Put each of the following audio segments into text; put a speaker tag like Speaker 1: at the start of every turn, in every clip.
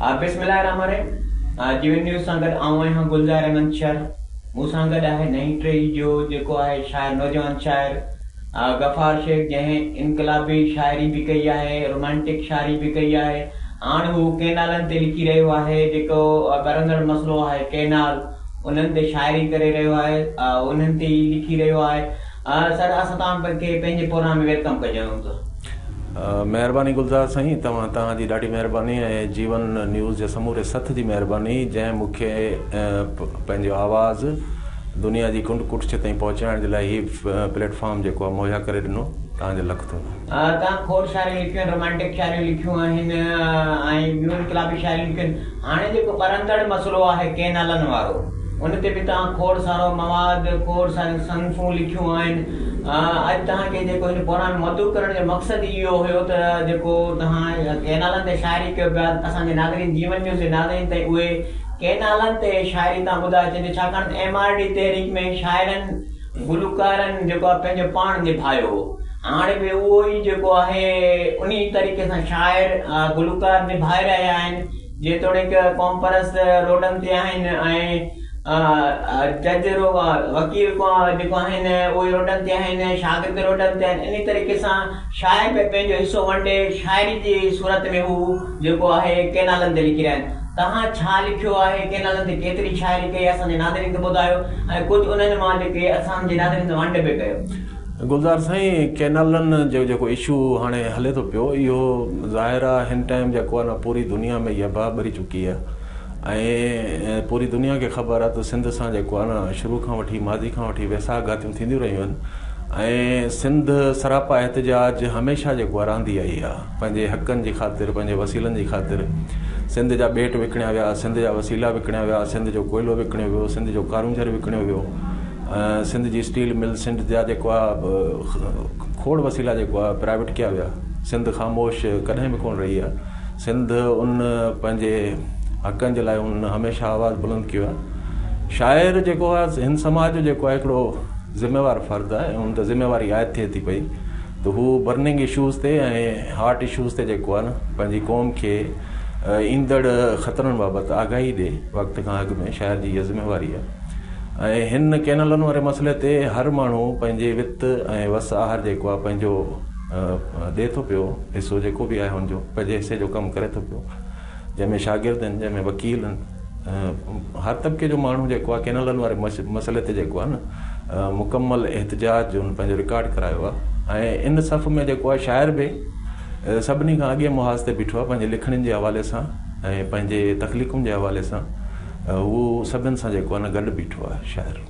Speaker 1: بسم الله الرحمن الرحيم جي وي نيوز سان گڏ آئون آهيان گلزار احمد شر مون سان گڏ آهي نئين ٽهي جو جيڪو آهي شاعر نوجوان شاعر غفار شيخ جنهن انقلابي شاعري به ڪئي آهي رومانٽڪ شاعري به ڪئي آهي هاڻ هو ڪينالن تي لکي رهيو آهي جيڪو ٻرندڙ مسئلو آهي ڪينال انهن تي شاعري ڪري رهيو آهي انهن تي ئي لکي رهيو آهي سر اسان توهان
Speaker 2: کي پنهنجي پروگرام ۾ ويلڪم ڪجون ٿا. مهرباني گلزار سائين توهان توهان جي ڏاڍي مهرباني ۽ جيون نيوز جي سموري سٿ جي مهرباني جنهن مون کي پنهنجو آواز دنيا جي ڪنڊ ڪٺچ تائين پهچائڻ جي لاء هي پليٽ فارم جيڪو آهي مهيا ڪري ڏنو توهان جو لک ٿورو. تان کوڙ
Speaker 1: شاعرن لکيون آهن، رومانٽڪ شاعرن لکيون آهن ۽ ٻيون انقلابي شاعرن لکيون آهن. هاڻي جيڪو ٻرندڙ مسئلو آهي ڪينالن وارو، ان تي به توهان کوڙ سارو مواد، کوڙ ساريون صنفون لکيون آهن. اڄ توهان کي جيڪو هن پروگرام ۾ مدعو ڪرڻ جو مقصد ئي اهو هيو ته جيڪو توهان ڪينالن تي شاعري ڪيو پيا، اسان جي ناظرين جيون نيوز جي ناظرين تائين اهي ڪينالن تي شاعري توهان ٻڌائي ڇڏيو، ڇاڪاڻ ته ايم آر ڊي تحريڪ ۾ شاعرن گلوڪارن جيڪو آهي پنهنجو پاڻ نڀايو هو هاڻي به اهو ئي جيڪو آهي انهي طريقي سان شاعر گلوڪار نڀائي رهيا آهن جيتوڻيڪ قومپرست روڊن تي آهن ۽ جج وڪيل جيڪو آهن اهي روڊن تي آهن شاگرد روڊن تي آهن انهي طريقي سان شاعر به پنهنجو حصو ونڊي شاعري جي صورت ۾ هو جيڪو آهي ڪينالن تي لکي رهيا آهن. توهان ڇا لکيو آهي، ڪن نالن تي ڪيتري شاعري ڪئي، اسان جي ناظرين کي ٻڌايو ۽ ڪجهه انهن مان لکي اسان جي ناظرين سان ونڊ به ڪيو. گلزار سائين
Speaker 2: ڪينالن جو جيڪو اشو هاڻي هلي ٿو پيو اهو ظاهر آ هن ٽائيم جيڪو آ نه پوري دنيا ۾ اها باهه ٻري چڪي آ ۽ پوري دنيا کي خبر آ ته سنڌ سان جيڪو آ نه شروع کان وٺي ماضي کان وٺي ويساهه گهاتيون ٿينديون رهيون آهن ۽ سنڌ سراپا احتجاج هميشه جيڪو آ رهندي آئي آ. پنهنجي حقن جي خاطر، پنهنجي وسيلن جي خاطر سنڌ جا ٻيٽ وڪڻيا ويا، سنڌ جا وسيلا وڪڻيا ويا، سنڌ جو ڪوئلو وڪڻيو ويو، سنڌ جو ڪارونجهر وڪڻيو ويو، سنڌ جي اسٽيل مل، سنڌ جا جيڪو آ کوڙ وسيلا جيڪو آ پرائيويٽ ڪيا ويا، سنڌ خاموش ڪڏهن به ڪونه رهي آ، سنڌ ان پنهنجي حقن جي لاء ان هميشه آواز بلند ڪيو آ، شاعر جيڪو آ هن سماج جو جيڪو آ هڪڙو ذميوار فرد آ ۽ ان تي ذميواري عائد ٿئي ٿي پئي ته هو برننگ اشوز تي ۽ هاٽ اشوز تي جيڪو آهي نه پنهنجي قوم کي ايندڙ خطرن بابت آگاهي ڏي وقت کان اڳ ۾ شاعر جي اها ذميواري آهي ۽ هن ڪينالن واري مسئلي تي هر ماڻهو پنهنجي وت ۽ وس آهر جيڪو آهي پنهنجو ڏي ٿو پيو حصو جيڪو به آهي هن جو پنهنجي حصي جو ڪم ڪري ٿو پيو جنهن ۾ شاگرد آهن، جنهن ۾ وڪيل آهن، هر طبقي جو ماڻهو جيڪو آهي ڪينالن واري مسئلي تي جيڪو آهي نه مڪمل احتجاج جو ان پنهنجو رڪارڊ ڪرايو آهي ۽ ان صف ۾ جيڪو آهي شاعر به سڀني کان اڳئين محاذ تي بيٺو آهي پنهنجي لکڻين جي حوالي سان ۽ پنهنجي تخليقن جي حوالي سان هو سڀن سان جيڪو آهي نه گڏ بيٺو آهي شاعر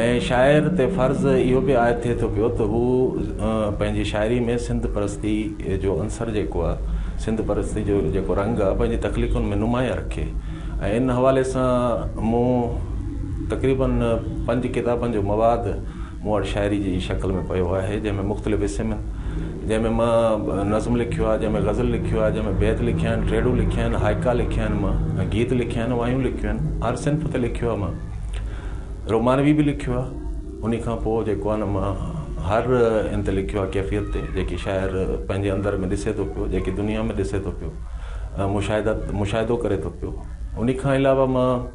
Speaker 2: ۽ شاعر تي فرض اهو به عائد ٿئي ٿو پيو ته هو پنهنجي شاعري ۾ سنڌ پرستي جو عنصر جيڪو آهي، سنڌ پرستي جو جيڪو رنگ آهي پنهنجي تخليقن ۾ نمايان رکي ۽ ان حوالي سان مون تقريباً پنج ڪتابن جو مواد مون وٽ شاعري جي شڪل ۾ پيو آهي جنهن ۾ مختلف حصي ۾ جنهن ۾ مان نظم لکيو آهي جنهن ۾ غزل لکيو آهي جنهن ۾ بيت لکيا آهن ٽيڙون لکيا آهن هائيڪا لکيا آهن مان گيت لکيا آهن وايون لکيون آهن هر صنف تي لکيو آهي مان رومانوي به لکيو آهي انهي کان پوء جيڪو آهي نه مان هر ان تي لکيو آهي ڪيفيت تي جيڪي شاعر پنهنجي اندر ۾ ڏسي ٿو پيو جيڪي دنيا ۾ ڏسي ٿو پيو مشاهدا مشاهدو ڪري ٿو پيو انهي کان علاوه مان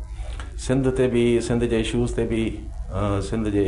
Speaker 2: سنڌ تي به سنڌ جي اشوز تي به سنڌ جي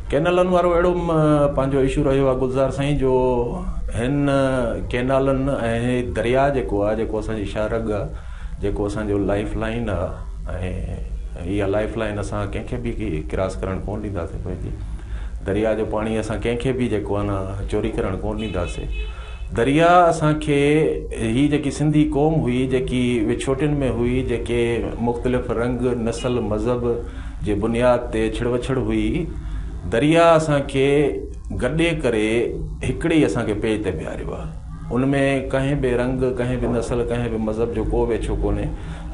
Speaker 1: ڪينالن وارو اهڙو
Speaker 2: پنهنجو اشو رهيو آهي گلزار سائين جو هن ڪينالن ۽ هي درياء جيڪو آهي جيڪو اسان جي شاهه رڳ آهي جيڪو اسان جو لائف لائن آهي ۽ اها لائف لائن اسان ڪنهن کي به ڪراس ڪرڻ ڪونه ڏينداسين پنهنجي درياء جو پاڻي اسان ڪنهن کي به جيڪو آهي نه چوري ڪرڻ ڪونه ڏينداسين درياء اسانکي هي جيڪي سنڌي قوم هئي جيڪي وڇوٽين ۾ هئي جيڪي مختلف رنگ نسل مذهب جي بنياد تي ڇڙوڇڙ هئي، درياء اسان کي گڏي ڪري هڪڙي ئي اسان کي پيج تي بيهاريو آهي، ان ۾ ڪنهن به رنگ، ڪنهن به نسل، ڪنهن به مذهب جو ڪو به اڇو ڪونهي،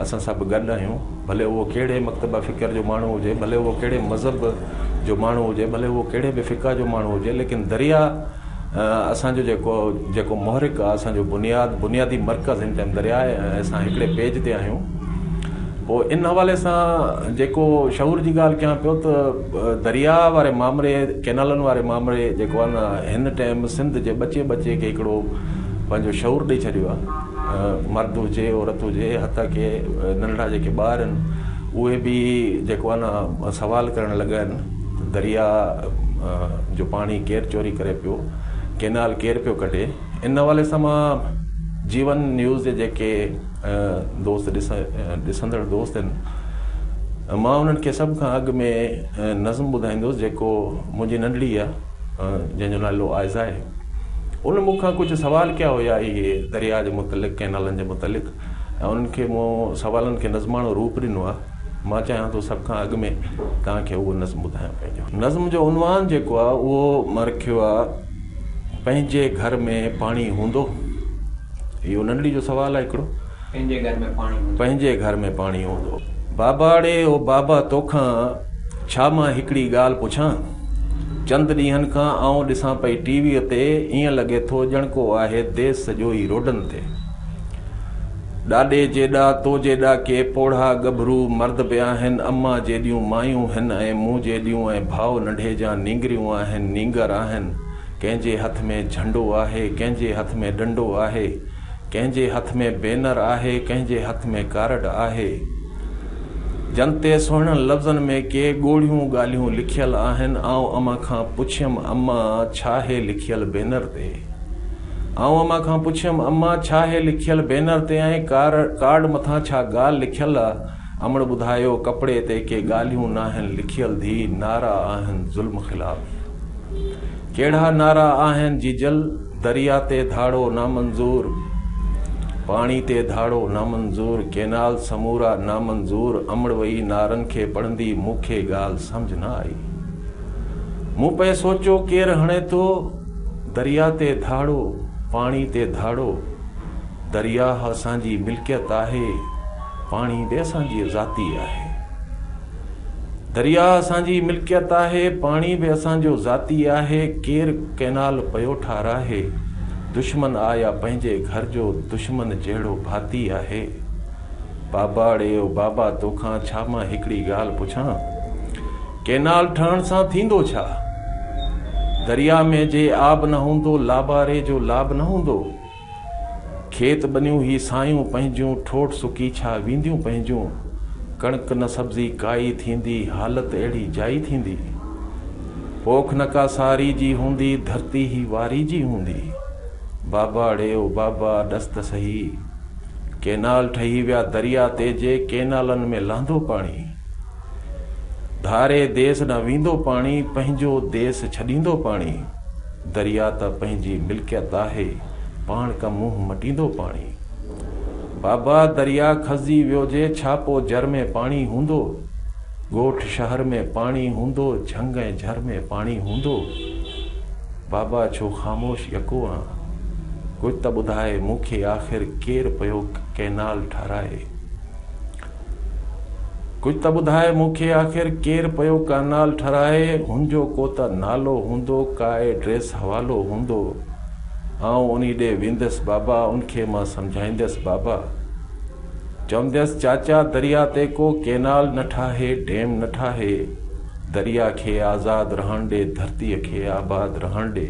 Speaker 2: اسان سڀ گڏ آهيون، ڀلي اهو ڪهڙي مڪتبه فڪر جو ماڻهو هجي، ڀلي اهو ڪهڙي مذهب جو ماڻهو هجي، ڀلي اهو ڪهڙي به فقه جو ماڻهو هجي، ليڪن درياء. اسان جو جيڪو جيڪو محرڪ آ، اسان جو بنياد بنيادي مرڪز هن ٽائيم درياء آهي ۽ اسان هڪڙي پيج تي آهيون. پوء ان حوالي سان جيڪو شعور جي ڳالهه ڪيان پيو ته درياء واري مامري ڪينالن واري مامري جيڪو آهي نه هن ٽائيم سنڌ جي ٻچي ٻچي کي هڪڙو پنهنجو شعور ڏئي ڇڏيو آ. مرد هجي عورت هجي حتيٰ ڪي ننڍڙا جيڪي ٻار آهن اهي به جيڪو آهي نه سوال ڪرڻ لڳا آهن. درياء جو پاڻي ڪير چوري ڪري پيو، ڪينال ڪير پيو ڪڍي، ان حوالي سان مان جيون نيوز جي جيڪي دوست ڏسندڙ دوست آهن مان انهن کي سڀ کان اڳ ۾ نظم ٻڌائيندس جيڪو منهنجي ننڍڙي آ جنهن جو نالو آئزا آهي ان مون کان ڪجهه سوال ڪيا هيا اهي درياء جي متعلق ڪينالن جي متعلق ۽ انهن کي مون سوالن کي نظماڻو روپ ڏنو آهي مان چاهيان ٿو سڀ کان اڳ ۾ توهان کي اهو نظم ٻڌايان پنهنجو نظم جو عنوان جيڪو آهي اهو مان رکيو آهي پنهنجي گهر ۾ پاڻي هوندو اهو ننڍڙي جو سوال آهي هڪڙو پنهنجي گهر ۾ پاڻي
Speaker 1: هوندو پنهنجي گهر ۾ پاڻي هوندو
Speaker 2: باباڙي او بابا توکان ڇا مان هڪڙي ڳالهه پڇان چند ڏينهن کان آئون ڏسان پئي ٽي ويء تي ائين لڳي ٿو ڄڻ ڪو آهي ديس سڄو ئي روڊن تي ڏاڏي جيڏا تو جيڏا ڪي پوڙها ڳڀرو مرد به آهن، امان جيڏيون مايون هن ۽ مون جيڏيون ۽ ڀاء ننڍي جان نينگريون آهن، نينگر آهن. ڪنهن جي هٿ ۾ جهنڊو آهي، ڪنهن جي هٿ ۾ ڏنڊو آهي، ڪنهن جي هٿ ۾ بينر آهي، ڪنهن جي هٿ ۾ ڪارڊ آهي. جن تي سهڻن لفظن ۾ ڪي ڳوڙهيون ڳالهيون لکيل آهن. آئون امان کان پڇيم، امان ڇا هي لکيل بينر تي؟ آئون امان کان پڇيم، امان ڇا هي لکيل بينر تي ۽ ڪارڊ مٿان ڇا ڳالهه لکيل آ؟ امڙ ٻڌايو، ڪپڙي تي ڪي ڳالهيون ناهن لکيل ڌي، نعرا آهن ظلم خلاف. ڪهڙا نعرا آهن جيجل؟ دريا تي ڌاڙو نامنظور، پاڻي تي ڌاڙو نامنظور، ڪينال سمورا نامنظور امڙ وئي نعرن کي پڙهندي مون کي ڳالهه سمجهه نه آئي. مون پئي سوچيو ڪير هڻي ٿو؟ درياء تي ڌاڙو، پاڻي تي ڌاڙو، درياهه اسان جي ملڪيت آهي، پاڻي به اسان جي ذاتي آهي. درياهه اسان جي ملڪيت آهي، پاڻي به اسان جو ذاتي آهي، ڪير ڪئنال پيو ٺاراهي، دشمن آ يا پنهنجي گهر جو دشمن جهڙو ڀاتي آهي. باباڙي او بابا توکان ڇا مان هڪڙي ڳالهه پڇان؟ ڪينال ٺهڻ سان ٿيندو ڇا؟ درياء ۾ جي آب نه هوندو، لاباري جو لاب نه هوندو. کيت ٻنيون هي سايون پنهنجون، ٺوٺ سڪي ڇا وينديون پنهنجون. ڪڻڪ نه سبزي ڪائي ٿيندي، حالت اهڙي جائي ٿيندي. پوک نه ڪا ساري جي هوندي، ڌرتي هي واري جي هوندي. باباڙي او بابا، ڏس ته سهي. ڪينال ٺهي ويا درياء تي جي ڪينالن ۾ لهندو پاڻي. ڌاري ديس ڏانهن ويندو پاڻي، پنهنجو ديس ڇڏيندو پاڻي، دريا ته پنهنجي ملڪيت آهي، پاڻ ڪم منهن مٽيندو پاڻي. بابا دريا کسجي ويو جي ڇا پو جر ۾ پاڻي هوندو، ڳوٺ شهر ۾ پاڻي هوندو، جهنگ ۽ جھر ۾ پاڻي هوندو. بابا ڇو خاموش يڪو آن؟ ڪجھ ته ٻڌاء مون کي آخر ڪير پيو ڪئنال ٺهرائي. ڪجهه ته ٻڌاء مون کي آخر ڪير پيو ڪئنال ٺھرائي ھن جو ڪو ته نالو ھوندو ڪا ايڊريس حوالو ھوندو آئون انھي ڏي ويندس بابا ان کي مان سمجھائيندس بابا چونديس چاچا دريا تي ڪو ڪئنال نه ٺاھي ڊيم نه ٺاھي دريا کي آزاد رھڻ ڏي ڌرتي کي آباد رھڻ ڏي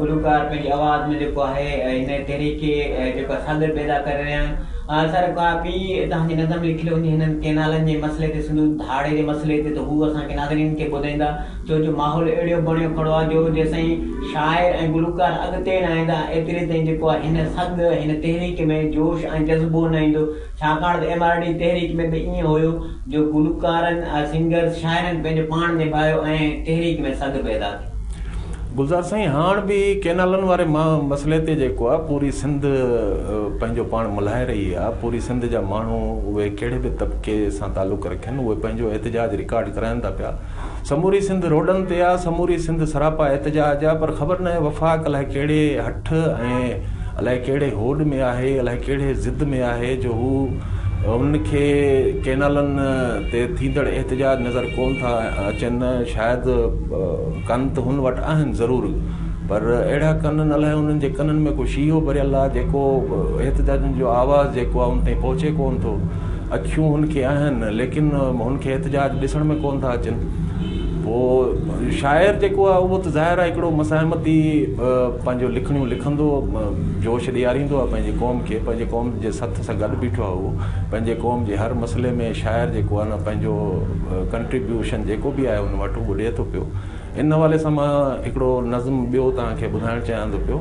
Speaker 1: گلوڪار پنهنجي آواز ۾ جيڪو آهي ان تحريڪ کي جيڪو صادر پيدا ڪري رهيا آهن ۽ سر ڪا ٻي توهان جي نظر ۾ لکيل هجي هنن ڪئنالن جي مسئلي تي سنڌو ڌاڙي جي مسئلي تي ته هو اسان کي ناظرين کي ٻڌائيندا ڇو جو ماحول اهڙيو بڻيو کڙو آهي جو جيسين شاعر ۽ گلوڪار اڳتي نه ايندا ايتري تائين جيڪو آهي هن سڳ هن تحريڪ ۾ جوش ۽ جذبو نه ايندو ڇاڪاڻ ته ايم آر ڊي تحريڪ ۾ به ائين هيو جو گلوڪارن، سنگرز، شاعرن پنهنجو پاڻ نڀايو ۽ تحريڪ ۾ سگهه پيدا ٿي. گلزار سائين
Speaker 2: هاڻ به ڪينالن واري مسئلي تي جيڪو آ پوري سنڌ پنهنجو پاڻ ملهائي رهي آ، پوري سنڌ جا ماڻهو اهي ڪهڙي به طبقي سان تعلق رکين اهي پنهنجو احتجاج رڪارڊ ڪراين ٿا پيا. سموري سنڌ روڊن تي آ، سموري سنڌ سراپا احتجاج آ پر خبر ناهي وفاق الائي ڪهڙي هٺ ۽ الائي ڪهڙي هوڏ ۾ آهي، الائي ڪهڙي ضد ۾ آهي جو هو هن کي ڪينالن تي ٿيندڙ احتجاج نظر ڪون ٿا اچن، شايد ڪن ته هن وٽ آهن ضرور پر اهڙا ڪنن الائي انهن جي ڪنن ۾ ڪو شيهو ڀريل آ جيڪو احتجاجن جو آواز جيڪو آ ان تائين پهچي ڪون ٿو. اکيون هن کي آهن ليڪن هن کي احتجاج ڏسڻ ۾ ڪونه ٿا اچن پوء شاعر جيڪو آهي اهو ته ظاهر آهي هڪڙو مزاحمتي پنهنجو لکڻيون لکندو جوش ڏياريندو آهي پنهنجي قوم کي پنهنجي قوم جي سٿ سان گڏ بيٺو آهي اهو پنهنجي قوم جي هر مسئلي ۾ شاعر جيڪو آهي نه پنهنجو ڪنٽريبيوشن جيڪو به آهي ان وٽ اهو ڏئي ٿو پيو ان حوالي سان مان هڪڙو نظم ٻيو توهان کي ٻڌائڻ چاهيان ٿو پيو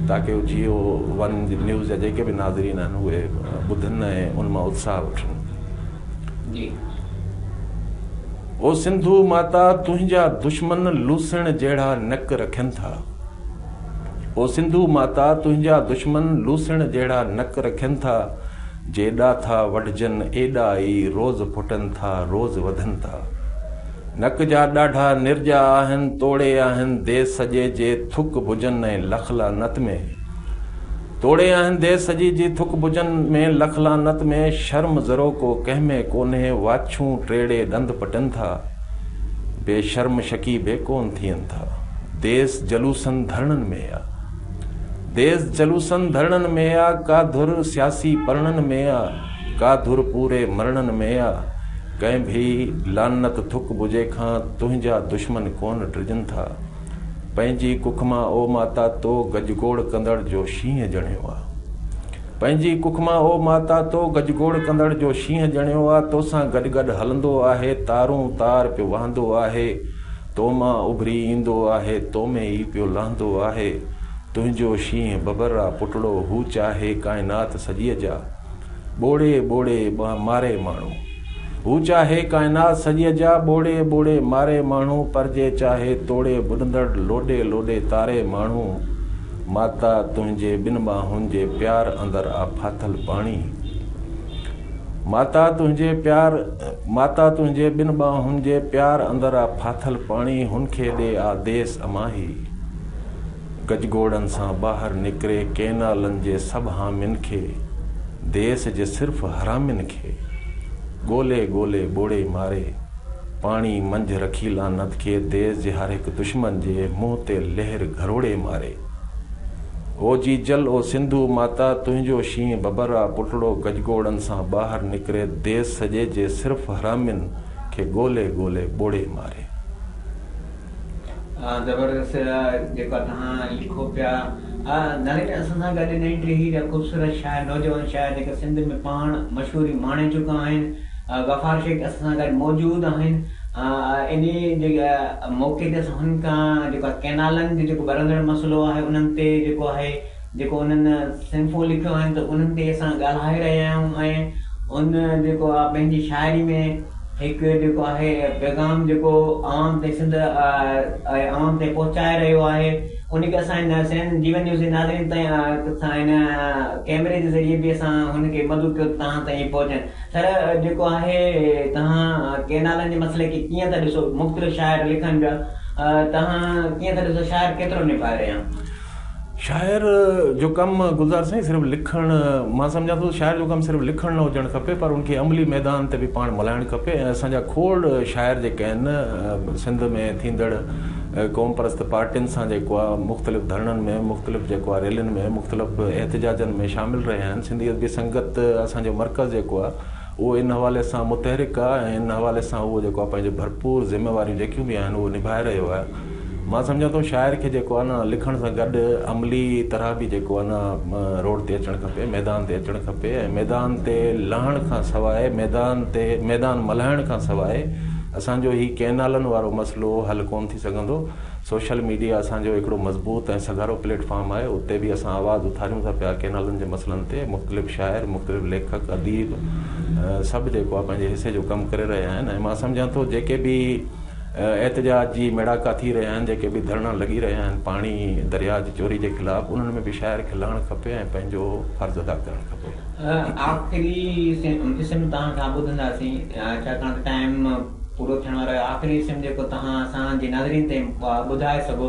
Speaker 2: تاڪه جيو ون نيوز جا جيڪي به ناظرين آهن اهي ٻڌن ۽ ان مان اتساهه وٺن
Speaker 1: جي
Speaker 2: او سنڌو ماتا تنهنجا دشمن لوسڻ جهڙا نڪ رکن ٿا او سنڌو ماتا تنهنجا دشمن لوسڻ جهڙا نڪ رکن ٿا جي ڏاٿا وڍجن ايڏا ئي روز ڦٽن ٿا روز وڌن ٿا نڪ جا ڏاڍا نرجا آهن توڙي آهن دي سڄي جي ٿڪ ڀجن ۽ لک لعنت ۾. توڙي آهن دي سڄي جي ٿڪ ڀجن ۾ لک لعنت ۾. شرم ذروڪو ڪنهن ۾ ڪونهي واڇون ٽيڙي ڏند پٽن ٿا. بي شرم شڪي بي ڪون ٿين ٿا. ديس جلوسن ڌرڻن ۾ آ. ديس جلوسن ڌرڻن ۾ آ. ڪا ڌر سياسي پرڻن ۾ آ. ڪا ڌر پوري مرڻن ۾ آ، ڪنهن ڀي لعنت ٿڪ ٻجهي کان تنهنجا دشمن ڪونه ڊڄن ٿا. پنهنجي ڪک مان او ماتا تو گجگوڙ ڪندڙ جو شينهن ڄڻيو آ. پنهنجي ڪک مان او ماتا تو گجگوڙ ڪندڙ جو شينهن ڄڻيو آ، توسان گڏ گڏ هلندو آهي، تارون تار پيو وهندو آهي، تو مان اڀري ايندو آهي، تو ۾ ئي پيو لهندو آهي. تنهنجو شينهن ببر آ پٽڙو، هو چاهي ڪائنات سڄيء جا. ٻوڙي ٻوڙي ماري ماڻهو. هو چاهي ڪائنات سڄيء جا ٻوڙي ٻوڙي ماري ماڻهو پر جي چاهي توڙي ٻڏندڙ لوڏي لوڏي تاري ماڻهو. ماتا تنهنجي ٻن ٻانهن جي پيار اندر آ ڦاٿل پاڻي. ماتا تنهنجي پيار ماتا تنهنجي ٻن ٻانهن جي پيار اندر آ ڦاٿل پاڻي هن کي ڏي آ ديس اماهي. گجگوڙن سان ٻاهر نڪري ڪينالن جي سڀ حامين کي، ديس جي صرف حرامين کي، ڳولي ڳولي ٻوڙي ماري، پاڻي منجهه رکي لعنت کي ديس جي هر هڪ دشمن جي منهن تي لهر گهروڙي ماري. او جي جل او سنڌو ماتا تنهنجو شينهن ببر آ پٽڙو گجگوڙن سان ٻاهر نڪري ديس سڄي جي صرف حرامين کي ڳولي ڳولي ٻوڙي ماري.
Speaker 1: زبردست جيڪا توهان لکو پيا نالي ۾ اسان سان گڏ نئين ٽيهي جا خوبصورت شاعر نوجوان شاعر جيڪا سنڌ ۾ پاڻ مشهوري ماڻي چڪا آهن غفار شيخ اسان سان گڏ موجود آهن انهي جي موقعي تي اسان هن کان جيڪا ڪينالن جو جيڪو ٻرندڙ مسئلو آهي انهن تي جيڪو آهي جيڪو انهن صنفون لکيون آهن ته انهن تي اسان ڳالهائي رهيا آهيون ۽ ان جيڪو آ پنهنجي شاعري ۾ هڪ جيڪو آهي پيغام جيڪو عوام تي سنڌ ۽ عوام تي پهچائي رهيو آهي ان کي اسان هن سين جيون نيوز جي ناظرين تائين سان هن ڪيمري جي ذريعي به اسان هن کي مدعو ڪيو ته تهان تائين پهچن سر جيڪو آهي تهان ڪينالن جي مسئلي کي ڪيئن ٿا ڏسو مختلف شاعر لکن پيا تهان ڪيئن ٿا ڏسو شاعر ڪيترو نڀائي رهيا شاعر
Speaker 2: جو ڪم گلزار سائين صرف لکڻ مان سمجهان ٿو شاعر جو ڪم صرف لکڻ نه هجڻ کپي پر ان کي عملي ميدان تي به پاڻ ملهائڻ کپي ۽ اسان جا کوڙ شاعر جيڪي آهن سنڌ ۾ ٿيندڙ قوم پرست پارٽين سان جيڪو آهي مختلف ڌرڻن ۾ مختلف جيڪو آهي ريلين ۾ مختلف احتجاجن ۾ شامل رهيا آهن سنڌي ادبي سنگت اسان جو مرڪز جيڪو آهي اهو ان حوالي سان متحرڪ آهي ۽ ان حوالي سان اهو جيڪو آهي پنهنجي ڀرپور ذميواريون جيڪيون به آهن اهو نڀائي رهيو آهي مان سمجهان ٿو شاعر کي جيڪو آهي نه لکڻ سان گڏ عملي طرح به جيڪو آهي نه روڊ تي اچڻ کپي ميدان تي اچڻ کپي ۽ ميدان تي لهڻ کان سواء ميدان تي ميدان ملهائڻ کان سواء اسانجو هي ڪئنالن وارو مسئلو حل ڪون ٿي سگهندو سوشل ميڊيا اسان جو هڪڙو مضبوط ۽ سگهارو پليٽ فارم آهي، اتي به اسان آواز اٿاريون ٿا پيا، ڪينالن جي مسئلن تي مختلف شاعر، مختلف ليکڪ، اديب سڀ جيڪو آهي پنهنجي حصي جو ڪم ڪري رهيا آهن ۽ مان سمجهان ٿو جيڪي به احتجاج جي ميڙاڪا ٿي رهيا آهن، جيڪي به ڌرڻا لڳي رهيا آهن پاڻي درياء جي چوري جي خلاف انهن ۾ به شاعر کي لهڻ کپي ۽ پنهنجو فرض ادا ڪرڻ کپي. آخري
Speaker 1: قسم توهان کان ٻڌنداسين ڇاڪاڻ ته ٽائيم پورو ٿيڻ وارو اهي آخري اسم جيڪو توهان اسان جي ناظرين تائين ٻڌائي سگهو.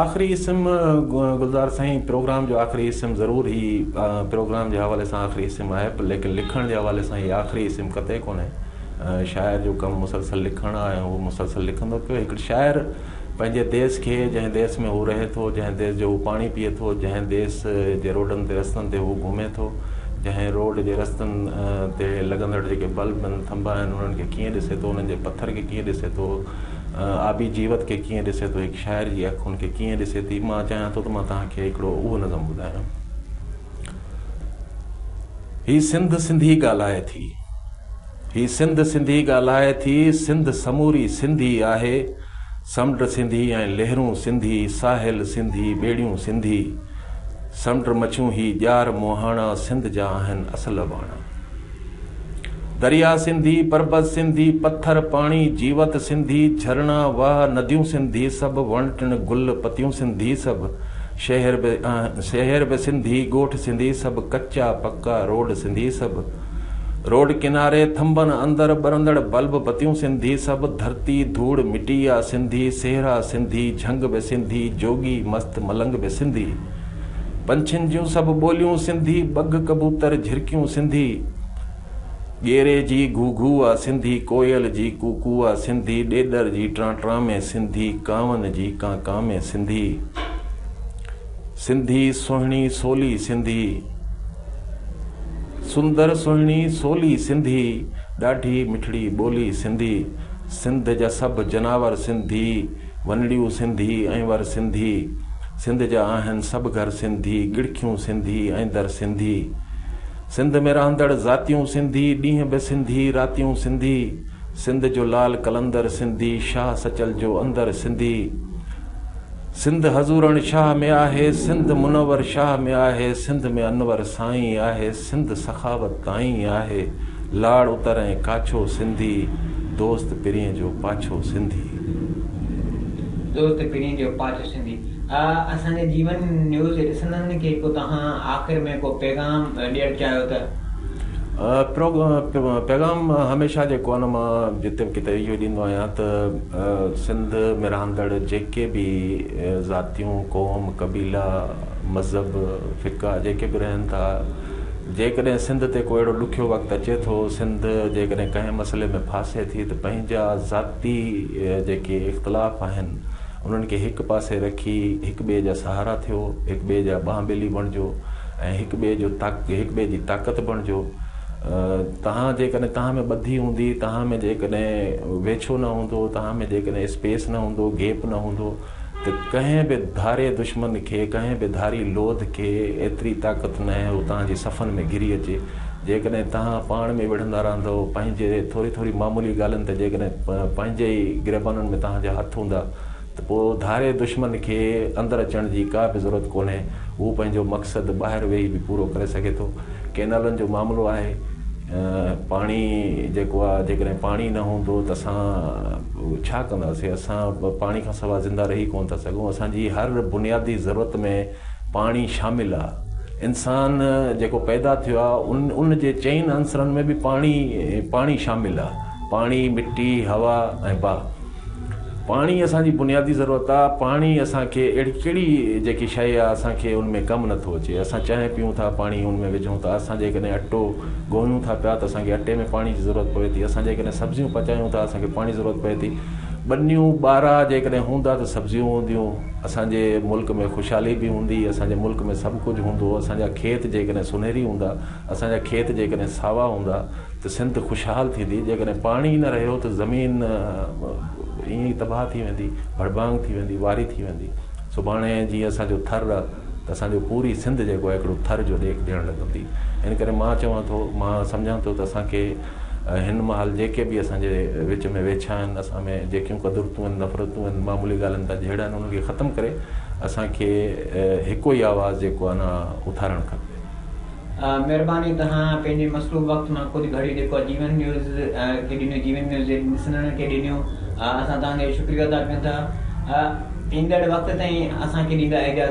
Speaker 2: آخري اسم گلزار سائين پروگرام جو آخري اسم ضرور هي پروگرام جي حوالي سان آخري اسم آهي پر ليڪن لکڻ جي حوالي سان هي آخري اسم قطعي ڪونهي شاعر جو ڪم مسلسل لکڻ آهي ۽ هو مسلسل لکندو پيو هڪڙي شاعر پنهنجي ديس کي، جنهن ديس ۾ هو رهي ٿو، جنهن ديس جو هو پاڻي پيئي ٿو، جنهن ديس جي روڊن تي رستن تي هو گهمي ٿو، جنهن روڊ جي رستن تي لڳندڙ جيڪي بلب آهن، ٿنڀا آهن، انهن کي ڪيئن ڏسي ٿو، انهن جي پٿر کي ڪيئن ڏسي ٿو، آبي جيوت کي ڪيئن ڏسي ٿو، هڪ شاعر جي اک ان کي ڪيئن ڏسي ٿي، مان چاهيان ٿو ته مان توهان کي هڪڙو اهو نظم ٻڌايان. هي سنڌ سنڌي ڳالهائي ٿي. هي سنڌ سنڌي ڳالهائي ٿي، سنڌ سموري سنڌي آهي، سمنڊ سنڌي ۽ لهرون سنڌي، ساحل سنڌي، ٻيڙيون سنڌي، سمنڊ مڇيون هي ڄار مهاڻا سنڌ جا آهن اصل اباڻا. دريا سنڌي، پربت سنڌي، پٿر، پاڻي، جيوت سنڌي، جهرڻا، واهه، نديون سنڌي سڀ، وڻ ٽڻ، گل، پتيون سنڌي سڀ، شهر به شهر به سنڌي، ڳوٺ سنڌي سڀ، ڪچا پڪا روڊ سنڌي سڀ، روڊ ڪناري ٿنڀن اندر ٻرندڙ بلب بتيون سنڌي سڀ ڌرتي ڌوڙ مٽي آ سنڌي سهرا سنڌي جهنگ به سنڌي جوڳي مست ملنگ به سنڌي پنڇين جون سڀ ٻوليون سنڌي ٻگهه ڪبوتر جهرڪيون سنڌي ڳيري جي گهو گهو آ سنڌي ڪوئل جي ڪو ڪو آ سنڌي ڏيڏر جي ٽران ٽران ۾ سنڌي ڪانون جي ڪان ڪان ۾ سنڌي سنڌي سهڻي سولي سنڌي. سندر سهڻي سولي سنڌي، ڏاڍي مٺڙي ٻولي سنڌي، سنڌ جا سڀ جناور سنڌي، ونڙيون سنڌي ۽ ور سنڌي، سنڌ جا آهن سڀ گهر سنڌي، ڳڙکيون سنڌي ۽ در سنڌي، سنڌ ۾ رهندڙ ذاتيون سنڌي، ڏينهن به سنڌي راتيون سنڌي، سنڌ جو لال قلندر سنڌي، شاهه سچل جو اندر سنڌي، سنڌ حضورڻ شاهه ۾ آهي سنڌ منور شاهه ۾ آهي سنڌ ۾ انور سائين آهي سنڌ سخاوت تائين آهي لاڙ اتر ۽ ڪاڇو سنڌي دوست پرينء جو پاڇو سنڌي.
Speaker 1: دوست پرينء جو پاڇو سنڌي آ اسان جي جيون نيوز جي ڏسندڙن کي ڪو توهان آخر ۾ ڪو پيغام ڏيڻ چاهيو ته. پروگرام پيغام هميشه جيڪو آهي نه مان جتي به ڪٿي اهو ڏيندو آهيان ته. سنڌ ۾ رهندڙ جيڪي به ذاتيون، قوم، قبيلا، مذهب، فقه جيڪي به رهن ٿا، جيڪڏهن سنڌ تي ڪو اهڙو ڏکيو وقت اچي ٿو، سنڌ جيڪڏهن ڪنهن مسئلي ۾ ڦاسي ٿي ته پنهنجا ذاتي جيڪي اختلاف آهن انهن کي هڪ پاسي رکي هڪ ٻئي جا سهارا ٿيو، هڪ ٻئي جا ٻانهن ٻيلي بڻجو ۽ هڪ ٻئي جو هڪ ٻئي جي طاقت بڻجو. توهان جيڪڏهن توهان ۾ ٻڌي هوندي، توهان ۾ جيڪڏهن ويڇو نه هوندو، توهان ۾ جيڪڏهن اسپيس نه هوندو، گيپ نه هوندو ته ڪنهن به ڌاري دشمن کي، ڪنهن به ڌاري لوڌ کي ايتري طاقت ناهي هو توهان جي صفن ۾ گهري اچي. جيڪڏهن توهان پاڻ ۾ وڙهندا رهندؤ، پنهنجي ٿوري ٿوري معمولي ڳالهين تي جيڪڏهن پنهنجي ئي گريبانن ۾ توهان جا هٿ هوندا، ته پوء ڌاري دشمن کي اندر اچڻ جي ڪا به ضرورت ڪونهي، هو پنهنجو مقصد ٻاهر ويهي به پورو ڪري سگهي ٿو. ڪينالن جو معاملو آهي، پاڻي جيڪو آهي جيڪڏهن پاڻي نه هوندو ته اسان ڇا ڪنداسين، اسان پاڻي کان سواء زنده رهي ڪونه ٿا سگهون، اسان جي هر بنيادي ضرورت ۾ پاڻي شامل آهي، انسان جيڪو پيدا ٿيو آهي ان جي چئن عنصرن ۾ به پاڻي پاڻي شامل آهي، پاڻي، مٽي، هوا ۽ باهه. پاڻي اسان جي بنيادي ضرورت آ، پاڻي اسان کي اهڙي ڪهڙي جيڪي شيء آ اسان کي ان ۾ ڪم نٿو اچي، اسان چانهه پيئون ٿا پاڻي ان ۾ وجهون ٿا، اسان جيڪڏهن اٽو ڳوهيون ٿا پيا ته اسان کي اٽي ۾ پاڻي جي ضرورت پوي ٿي، اسان جيڪڏهن سبزيون پچايون ٿا اسان کي پاڻي جي ضرورت پوي ٿي، ٻنيون ٻارا جيڪڏهن هوندا ته سبزيون هونديون، اسان جي ملڪ ۾ خوشحالي به هوندي، اسان جي ملڪ ۾ سڀ ڪجهه هوندو، اسان جا کيت جيڪڏهن سونهري هوندا. اسان جا کيت جيڪڏهن ساوا هوندا ته سنڌ خوشحال ٿيندي، جيڪڏهن پاڻي ئي نه رهيو ته زمين ائين
Speaker 2: ئي تباهه ٿي ويندي، ڀڙڀانگ ٿي ويندي، واري ٿي ويندي. سڀاڻي جيئن اسان جو ٿر ته اسان جو پوري سنڌ جيڪو آهي هڪڙو ٿر جو ڏيک ڏيڻ لڳندي. ان ڪري مان چوان ٿو، مان سمجهان ٿو ته اسان کي هن مهل جيڪي به اسان جي وچ ۾ ويڇا آهن، اسان ۾ جيڪيون قدرتون آهن، نفرتون آهن، معمولي ڳالهين تان جهيڙا آهن، انهن کي ختم ڪري اسان کي هڪ ئي آواز جيڪو آهي نه اٿارڻ کپي. مھرباني
Speaker 1: تھان پنھنجي مصروف وقت مان ڪجھ گھڙي جيڪو جيون نيوز کي ڏنيو جيون نيوز جي ڏسندڙن کي ڏنيو اسان تھان جو شڪريو ادا ڪيون ٿا ايندڙ وقت تائين اسان کي ڏيندا اجازت.